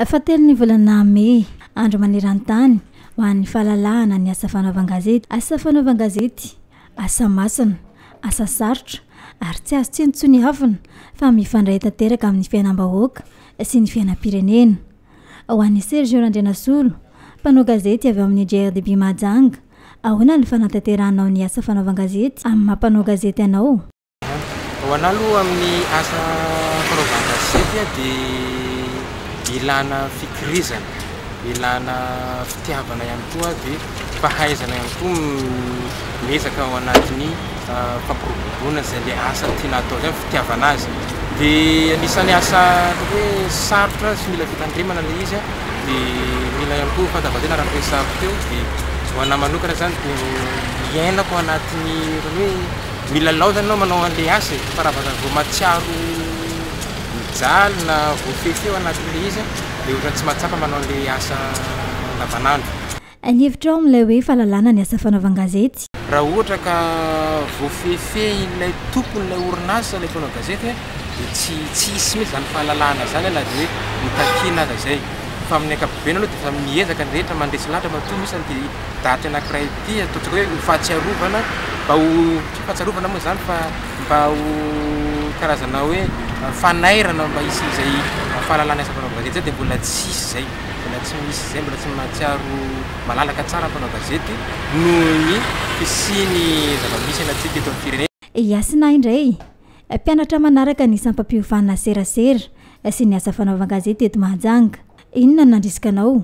Fahatelo ny volana mey, Andro maneran-tany ho an'ny fahalalahana ny asa fanaovan-gazety. Asa fanaovan-gazety, asa masina, asa sarotra ary tsy azo tsinontsiniavina fa mifandray tanteraka amin'ny fiainam-bahoaka sy ny fiainam-pirenena. Ho an'i Sergio Randrianasolo, mpanao gazety avy ao amin'ny GRDB Mahajanga, ahoana ny fanatanteranao ny asa fanaovan-gazety amin'ny maha mpanao gazety anao? Ho anah aloha amin'ny asa fanaovana gazety dia ilana fikirizana, ilana fitiavana ihany koa dia fahaizana ihany koa ny miezaka ao anatin'ny fampiroboroboana izay le asa tiana atao izay, fitiavana azy. Dia anisan'ny asa ataoko hoe sarotra sy mila fitandremana ilay izy dia mila ihany koa fandavan-tena araka ny resahako teo dia ho anah manokana izany dia iainako ao anatin'ny ohatran'ny hoe Milalao zany anao manao an'le asa e, fa raha vao zany vao mahatsiaro mijaly na voafehy feo anatin'le izy an, de ohatran'ny tsy mahatsapa manao an'le asa andavanandro. Ny hevitrao amin'ilay hoe fahalalana ny asa fanaovan-gazety? Raha ohatra ka voafehifehin'ilay tompon'ilay orinasa ilay mpanao gazety an, dia tsy tsy hisy mihitsy izany fahalalahana izany na dia hoe notakina aza izay. Fa amin'ny ankapobeny aloha dia samy miezaka ny rehetra mandresy lahatra matoa misy an, dia. daty anankiray ity ataontsika hoe ho fahatsiarovana mba ho tsy fahatsiarovana moa izany fa mba ho karazana hoe fanairana mba hisy izay fahalalana asa fanaovana gazety izay dia mbola tsy hisy izay mbola tsy misy izay mbola tsy mahatsiaro malalaka tsara ny mpanao gazety noho ny fisian'ny zava-misy anantsika eto amin'ny firenena. Hasina indray mpianatra manaraka ny sampam-piovana serasera sy ny asa fanaovan-gazety eto Mahajanga. Inona no nandrisika anao